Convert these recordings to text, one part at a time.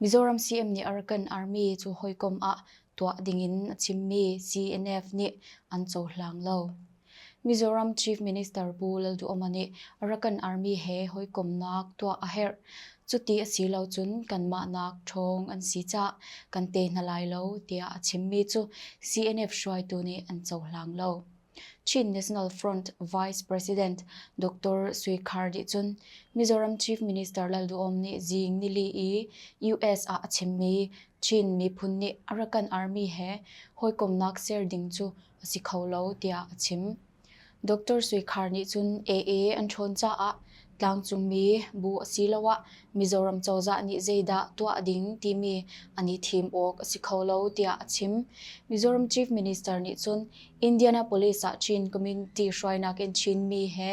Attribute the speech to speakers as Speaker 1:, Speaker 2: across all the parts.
Speaker 1: Mizoram CM nih a rak kan armi cu hawikom ah tuah dingin a chimmi CNF nih an cohlang lo. Mizoram Chief Minister Pu Lalduhoma nih a rak kan armi he hawikomnak tuah a herh. Cuti a si lo cun kanmahnak ṭhawng an si caah kan te hna lai lo tiah a chimmi cu CNF hruaitu nih an cohlang lo. Chin National Front Vice President Dr. Sui Khar nih cun Mizoram Chief Minister Lalduhom nih Zing Nili i US ah a chimmi Chin miphun nih a ra kan armi he hawikomhnak ser ding cu a si kho lo tiah a chim. Dr. Sui Khar nih cun AA an ṭhawn caah Tlangcungmi bu asiloah Mizoram cozah nih zeidah tuah ding timi an i thim awk a si kho lo tiah a chim. Mizoram Chief Minister nih cun Indianapolis ah Chin community hruainak in Chinmi he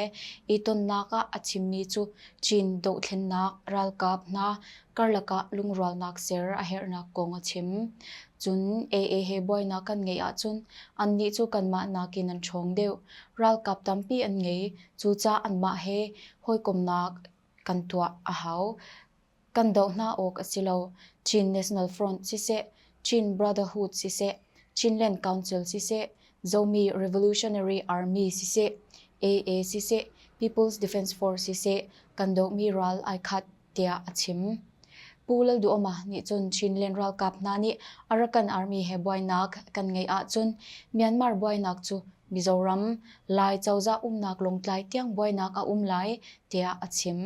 Speaker 1: i tonnak ah a chimmi cu Chin dohthlennak ralkap hna karlak ah lungrualnak ser a herhnak kong a chim. Cun AA he buainak kan ngeih ahcun annih cu kanmah nakin an ṭhawng deuh. Ralkap tampi an ngei. Cucaah anmah he hawikomhnak kan tuah a hau. Kan doh hna awk a si lo. Chin National Front siseh, Chin Brotherhood siseh, Chinland Council siseh, Zomi Revolutionary Army siseh, AA siseh, People's Defence Force siseh, kan dohmi ral ai khat tiah a chim. Pu Lalduhoma nih cun Chin Leng ralkap hna nih Arakan Army he buainak kan ngeih ahcun Myanmar buainak cu Mizoram, Lai cozah umnak Lawngtlai tiang buainak a um lai tiah a chim.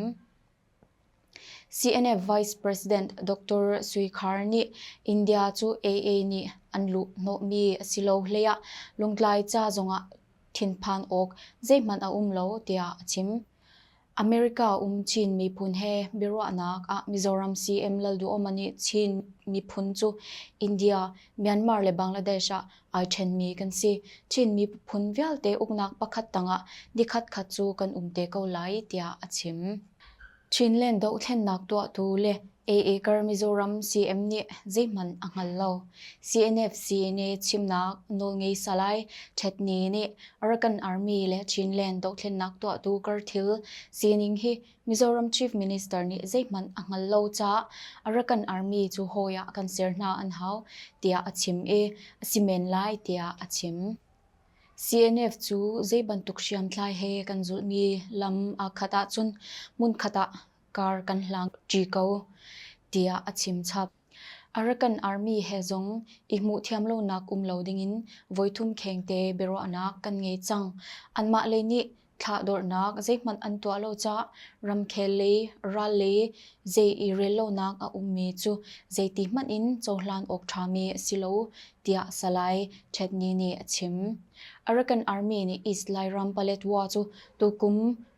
Speaker 1: CNF Vice President Dr. Sui Khar nih India cu AA nih an luh hnawhmi a si lo hlei ah Lawngtlai ca zongah thinphan awk zeihmanh a um lo tiah a chim. America um Chin miphun he biaruahnak ah Mizoram CM Lalduhoma nih Chin miphun cu India, Myanmar le Bangladesh ah ai ṭhenmi kan si. Chin miphun vialte uknak pakhat tangah nikhatkhat cu kan um te ko lai tiah a chim. Chinland dohthlennak tuahtu le A-Acre Mizoram CM nih zeihmanh a hngal lo. CNF CNA chimnak nawlngei Salai Htet Ne nih Arakan Army le Chinland dohthlennak tuahtu karthil sining hi Mizoram Chief Minister nih zeihmanh a hngal lo caah Arakan Army cu hawi ah kan ser hna an hau tiah a chim i a si men lai tiah a chim. CNF cu zeibantuk hriamtlai he kan zulhmi lam aa khat ahcun hmunkhat ah kar kan hlang ṭi ko, tiah a chimchap. Arakan Army he zong i hmuhthiam lonak um lo dingin voithum khengte biaruahnak kan ngei cang. Anmah lei nih thlah-dorhnak zeihmanh an tuah lo caah ramkhel lei, ral lei zei i rel lonak a ummi cu zeiti hmanh in cohlan awk ṭhami a si lo, tiah Salai Ṭhetni nih a chim. Arakan Army nih East Lairam Paletwa cu tukum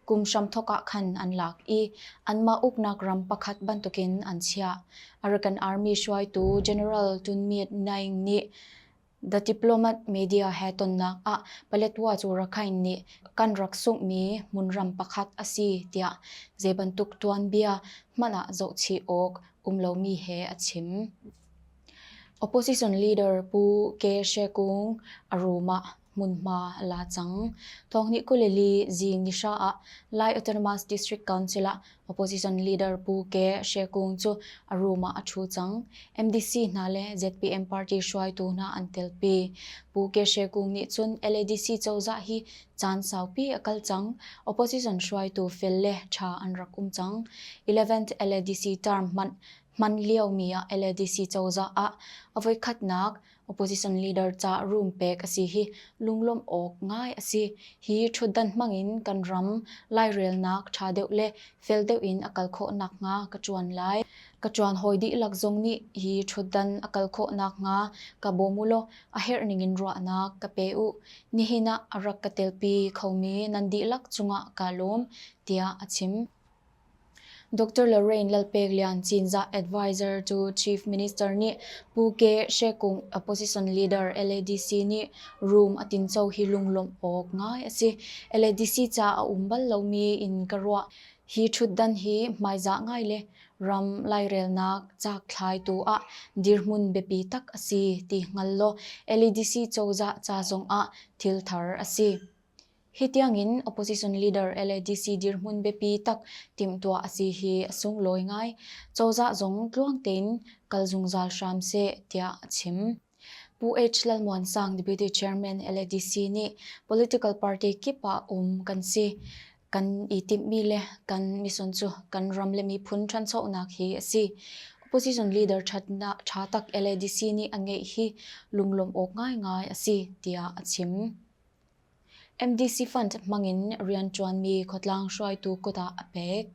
Speaker 1: kum hramthawk ah khan an lak i anmah uknak ram pakhat bantukin an chiah. Arakan Army hruaitu General Tun Myint Naing nih The Diplomat media he tonnak ah Paletwa cu Rakhine nih kan rak sunghmi hmunram pakhat a si tiah zeibantuk tuanbia hmanh ah zohchih awk um lomi he a chim. Opposition leader Pu Ke She Kung a rum ah Hmunhma a la cang. Thawngnih kuleli zing nihra ah Lai Autonomous District Council ah opposition leader Pu Ke She Kung cu a room ah a ṭhu cang. MDC hna le ZPM party hruaitu hna an telpi. Pu Ke She Kung nih cun LADC cozah hi caan saupi a kal cang. Opposition hruaitu fel le ṭha an rak um cang. 11th LADC term hman liomi ah LADC cozah ah a voikhatnak Opposition leader ca room pek a si hi lunglawmh awk ngai a si. Hi ṭhutdan hmang in kan ram lairelnak ṭha deuh le fel deuh in a kal khawh nakhnga ka ṭuan lai. Ka ṭuan hawi dihlak zong nih hi ṭhutdan a kal khawh nakhnga ka bawm u law a herhning in ruahnak ka pe u. Nihin ah a rak ka telpi khomi nan dihlak cungah kaa lawm, tiah a chim. Dr. Lorraine Lalpeklian Cinzah advisor to Chief Minister nih Pu Ke She Kung opposition leader LADC nih rum a tinco hi lunglawmh awk ngai a si. LADC ca a um bal lomi in ka ruah. Hi ṭhutdan hi hmaizah ngai le ram lairelnak cakthlaitu ah dirhmun biapi tak a si ti hngal law LADC cozah ca zongah thilthar a si. Hi tiangin opposition leader LADC dirhmun biapi tak timhtuah a si hi a sunglawi ngai. Cozah zong tluang tein kal zungzal hram seh tiah a chim. Pu H. Lalmuansang Deputy Chairman LADC nih political party kip ah um kan si. Kan i timhmi le kan mission cu kan ram le miphun ṭhanchonak hi a si. Opposition leader ṭha tak LADC nih a ngeih hi lunglawmh awk ngaingai a si tiah a chim. MDC fund hmangin rianṭuanmi khuatlang hruaitu kut ah a pek.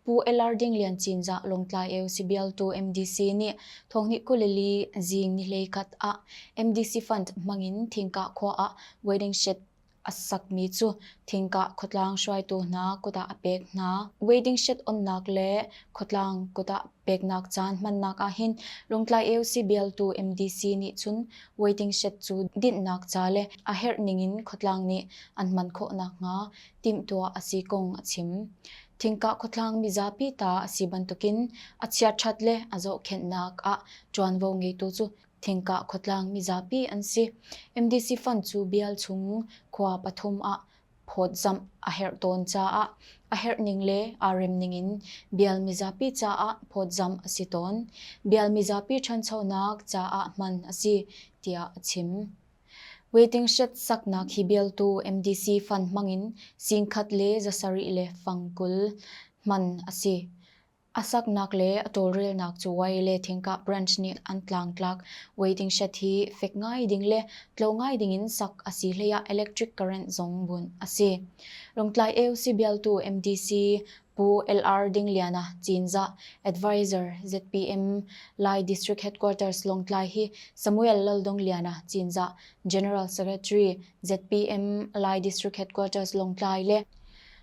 Speaker 1: Pu Elarding Lian Cinzah Lawngtlai eu sibialtu MDC nih thonghni kulili zing nihlei khat ah MDC fund hmangin thingkah khua ah waiting shed a sakmi cu thingkah khuatlang hruaitu hna kut ah a pek hna. Waiting shed onnak le khuatlang kut ah Peknak caan hmannak ahhin Lungtlai AOC bialtu MDC nih cun waiting shed cu dinhnak ca le a herh ningin khuatlang nih an hman khawh nakhnga timhtuah a si kong a chim. Thingkah khuatlang mizapi ta a si bantukin a chiaṭhat le a zohkhenhnak ah ṭuanvo ngeitu cu thingkah khuatlang mizapi an si. MDC fund cu bial chung khua pathum ah phawtzamh a herh tawn caah a herh ning le aa rem ning in bial mizapi caah phawtzamh a si tawn. Bial mizapi ṭhanchonak caah hman a si tiah a chim. Waiting shed saknak hi bialtu MDC fund hmangin singkhat le zasarih le fang kul hman a si. A saknak le a tawlrelnak cabuai le thingkah branch nih an tlangtlak. Waiting shed hi fek ngai ding le tlo ngai ding in sak a si hleiah electric current zong bunh a si. Lawngtlai AOC bialtu MDC Pu LR Dingliana Cinzah, advisor ZPM Lai District Headquarters Lawngtlai hi Samuel Laldongliana Cinzah, General Secretary ZPM Lai District Headquarters Lawngtlai le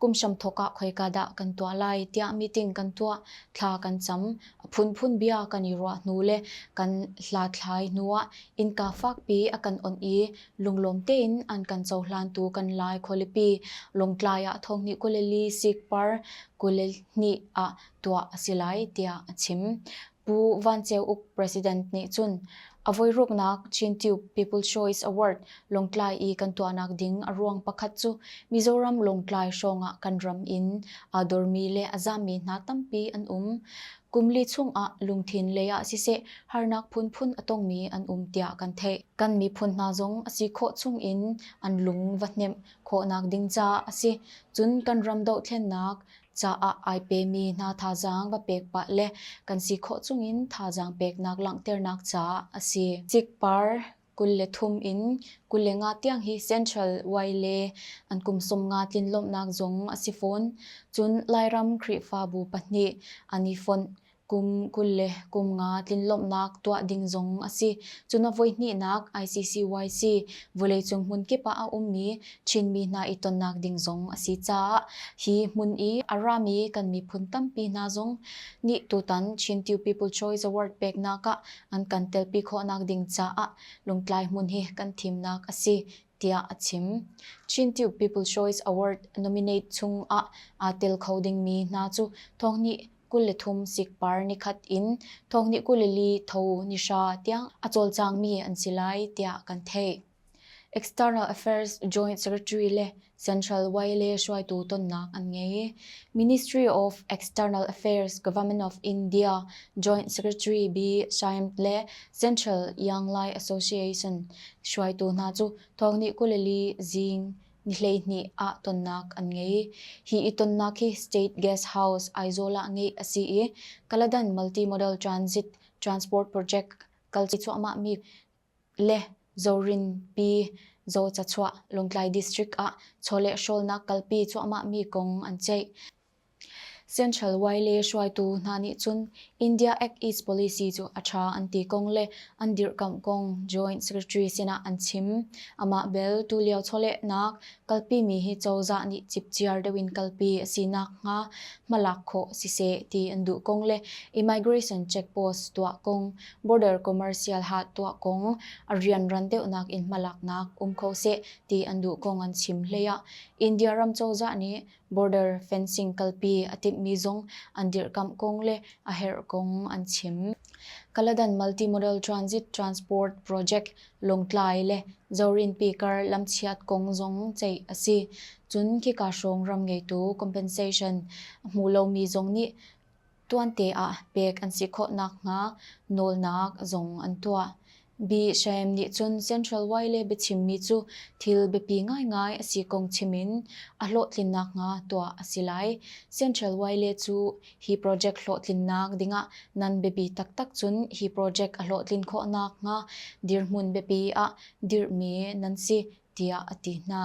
Speaker 1: Kum hramthawk ah khoika dah kan tuah lai tiah meeting kan tuah, thla kan cam. A phunphun bia kan i ruah hnu le kan hlathlai hnu ah innka fakpi a kan onh i lunglawm tein an kan cohlan tu kan Lai khualipi Lawngtlai ah thonghnih kul le li sikpar kul le hnih ah tuah a si lai tiah a chim. Pu Van Ceu Uk President nih cun a voiruknak Cintube People Choice Award Lawngtlai i kan tuahnak ding a ruang pakhat cu Mizoram Lawngtlai hrawng ah kan ram in aa dormi le a zammi hna tampi an um. Kum li chung ah lungthin lei ah siseh harnak phunphun a tongmi an um tiah kan theih. Kan miphun hna zong a si khawh chung in an lung va hnemh khawhnak ding caah a si. Cun kan ram dohthlennak caah ai pemi hna thazaang va pek pah le kan si khawh chungin thazaang peknak langhternak caah a si. Cikpar kul le thum in kul le nga tiang hi Central Way le an kum sawm nga tlinlawmhnak zong a si fawn. Cun Lairam Khrihfabu pahnih an i fonh. Kum kul le kum nga tlinlawmhnak tuah ding zong a si. Cun a voihnihnak ICCYC, vawleicung hmunkip ah a ummi Chinmi hna i tonnak ding zong a si caah hi hmun i a rami kan miphun tampi hna zong nih tutan Chin Tiu People Choice Award peknak ah an kan telpi khawhnak ding caah Lungtlai hmun hi kan thimnak a si tiah a chim. Cintioke People's Choice Award nominate chung ah aa tel kho dingmi hna cu thawngni kul le thum sikpar nikhat in thawngni kul le li tho nihra tiang a cawlcangmi an si lai tiah kan theih. External Affairs Joint Secretary le Central Y le hruaitu tonnak an ngei. Ministry of External Affairs Government of India Joint Secretary B. Shyam le Central Younglai Association hruaitu hna cu thawngnih kuleli zing ni hleihnih ah tonnak an ngei. Hi i tonnak hi State Gas House Aizawl ah ngeih a si i Kaladan Multimodal Transit Transport Project kalci cuahmahmi le Zorinpi Zocachuah Lawngtlai District ah chawleh hrawlnak kalpi cuahmahmi kong an ceih. Central Y le hruaitu hna nih cun India Act East policy cu a ṭha an ti kong le an dirkamh kong Joint Secretary sinah an chim. Amah bel tulio chawlehnak kalpimi hi cozah nih cipciar deuh in kalpi a si nakhnga hmalak khawh siseh ti an duh kong le immigration checkpost tuah kong, border commercial ha tuah kong, a rianran deuhnak in hmalaknak um kho seh ti an duh kong an chim hlei ah India ram cozah nih border fencing kalpi a timhmi zong an dirkamh kong le a herh kong an chim. Kaladan Multimodal Transit Transport Project Lawngtlai le Zorinpi kar lamchiat kong zong ceih a si. Cun khika hrawng ram ngeitu compensation a hmu lomi zong nih Tuante ah pek an si khawh nakhnga nawlnak zong an tuah. Biahreim nih cun Central Y le biachimmi cu thil biapi ngaingai a si kong chim in a hlawhtlin nakhnga tuah a si lai. Central Y le cu hi project hlawhtlinnak dingah nan biapi taktak cun hi project a hlawhtlin khawh nakhnga dirhmun biapi ah dirhmi nan si tiah a ti hna.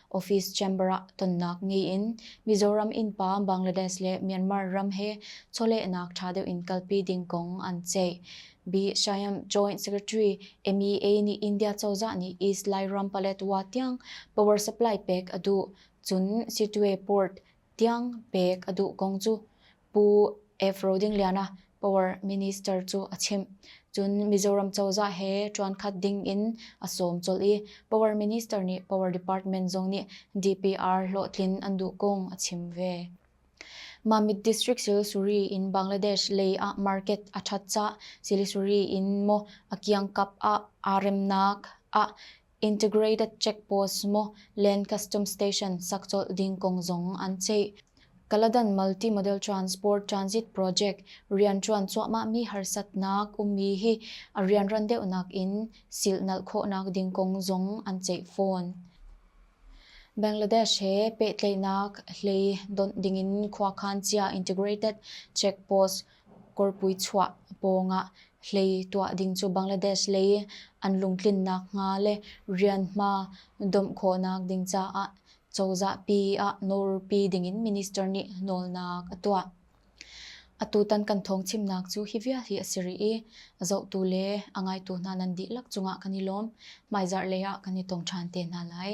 Speaker 1: office chamber ah tonnak ngei in Mizoram innpa Bangladesh le Myanmar ram he chawlehnak ṭha deuh in kalpi ding kong an ceih. Bi Shayam, Joint Secretary, MEA nih India cozah nih East Lairam Paletwa tiang power supply pek a duh, cun Sitwe Port tiang pek a duh kong cu Pu F. Rodingliana, Power Minister cu a chimh. Cun Mizoram cozah he ṭuankhat ding in a sawm colh i Power Minister nih Power Department zong nih DPR hlawhtlin an duh kong a chim ve. Mamit District Silisuri in Bangladesh lei ah market a ṭhat cah. Silisuri in maw a kiangkap ah aa remnak ah Integrated checkpost maw Land Customs Station sak colh ding kong zong an ceih. Kaladan Multimodal Transport Transit Project rianṭuan cuahmahmi harsatnak ummi hi a rianran deuhnak in silh nalh khawhnak ding kong zong an ceih fawn. Bangladesh he pehtlaihnak hlei donh dingin khuakhan cia Integrated Checkpost kawrpui chuah pawngah hlei tuah ding cu Bangladesh lei i an lungtlin nakhnga le rianhma domh khawhnak ding caah cozahpi ah nawlpi dingin minister nih nawlnak a tuah. Atutan kan thawngchimnak cu hi vial hi a si rih i zohtu le a ngaitu hna nan dihlak cungah kan i lawm. Hmaizarh lei ah kan i tong ṭhan te hna lai.